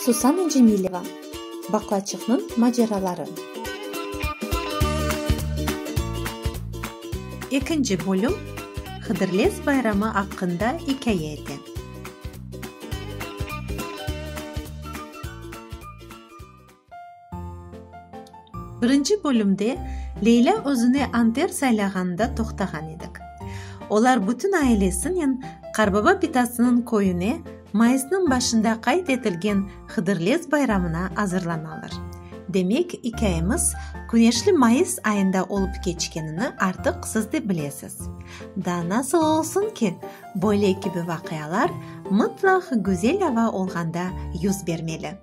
Susana Cemileva, Baqlaçıqnıñ maceraları. Ekinci bölüm Hıdırlez bayramı aqqında ikâye ete. Birinci bölümde Leylâ özüne Anter saylağanında toqtağan edik. Olar bütün ailesinen Qarbaba bitasınıñ köyüne mayısnıñ başında qayd etilgen Hıdırlez bayramına azırlanalar. Demek, ikâyemiz küneşli mayıs ayında olıp keçkenini artıq siz de bilesiz. Da nasıl olsun ki, böyle kibi vaqialar mıtlaq güzel ava olğanda yüz bermeli.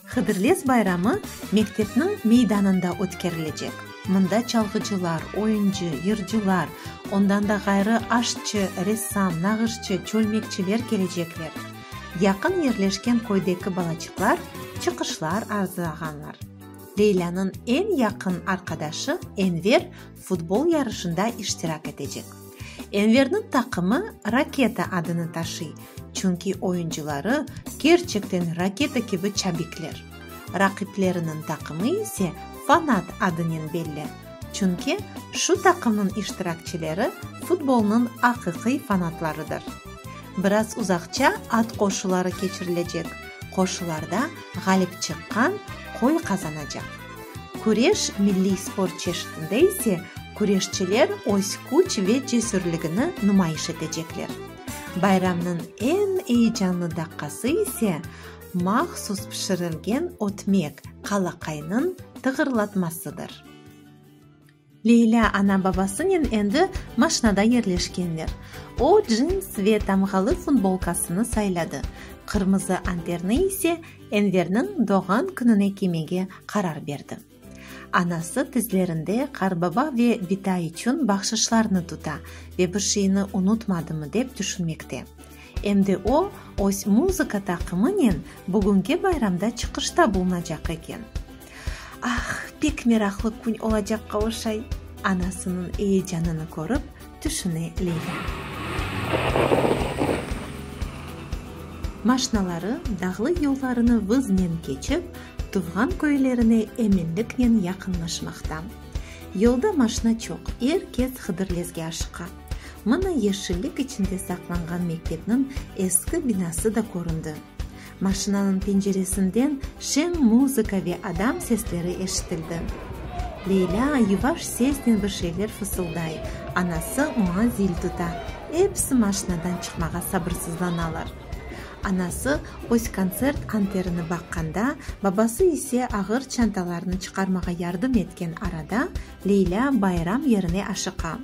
Hıdırlez bayramı mektepniñ meydanında ötkerilecek. Mında çalğıcılar, oyuncı, yırcılar, ondan da ğayrı aşçı, ressam, nağışçı, çölmekçiler kelecekler. Yaqın yerleşken köydeki balaçıqlar çıqışlar arzılağanlar. Leylânıñ eñ yaqın arqadaşı Enver futbol yarışında iştirak etecek. Enverniñ taqımı Raketa adını taşıy, çünki oyuncıları kerçekten raketa kibi çabikler. Raqipleriniñ taqımı ise Fanat adınen belli, çünki şu taqımnıñ iştirakçileri futbolnıñ aqiqiy fanatlarıdır. Biraz uzaqça at qoşuları keçirilecek, qoşularda ğalip çıqqan qoy qazanacaq. Küreş milliy sport çeşitinde ise küreşçiler öz küç ve cesürligini numayış etecekler. Bayramnıñ eñ eyecanlı daqqası ise, mahsus pişirilgen ötmek, qalaqaynıñ tığırlatmasıdır. Leylâ ana-babasınen endi maşnada yerleşkenler. O, cins ve tamğalı futbolkasını sayladı, qırmızı amperni ise Enverniñ doğğan kününe kiymege qarar berdi. Anası tizlerinde Qarbaba ve Bitay içün bahşışlarnı tuta ve bir şeyni unutmadımı dep tüşünmekte. Em de o, öz muzıka taqımınen bugünki bayramda çıqışta bulunacaq eken. Ah, pek meraqlı kün olacaq Qavuşay! anasınıñ eyecanını körip, tüşüne Leyla. Maşnaları dağlı yollarını vıznen keçip, tuvğan köylerine eminliknen yaqınlaşmaqta. Yolda maşna çoq, er kes Hıdırlezge aşıqa. Mına yeşillik içinde saqlanğan mektepniñ eski binası da köründi. Maşinanıñ penceresinden şeñ muzıka ve adam sesleri eşitildi. Leylâ yuvaş sesnen bir şeyler fısılday, anası oña zil tuta, episi maşinadan çıqmağa sabırsızlanalar. Anası öz kontsert anterini baqqanda, babası ise ağır çantalarnı çıqarmağa yardım etken arada, Leylâ bayram yerine aşıqa.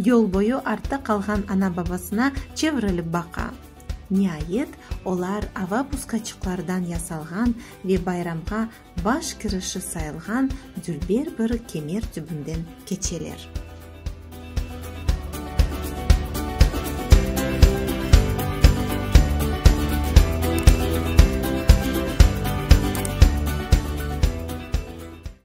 Yol boyu artta qalğan ana-babasına çevirilip baqa. Niayet, olar ava puskaçıqlardan yasalğan ve bayramğa baş kirişi sayılğan dülber bir kemer tübünden keçeler.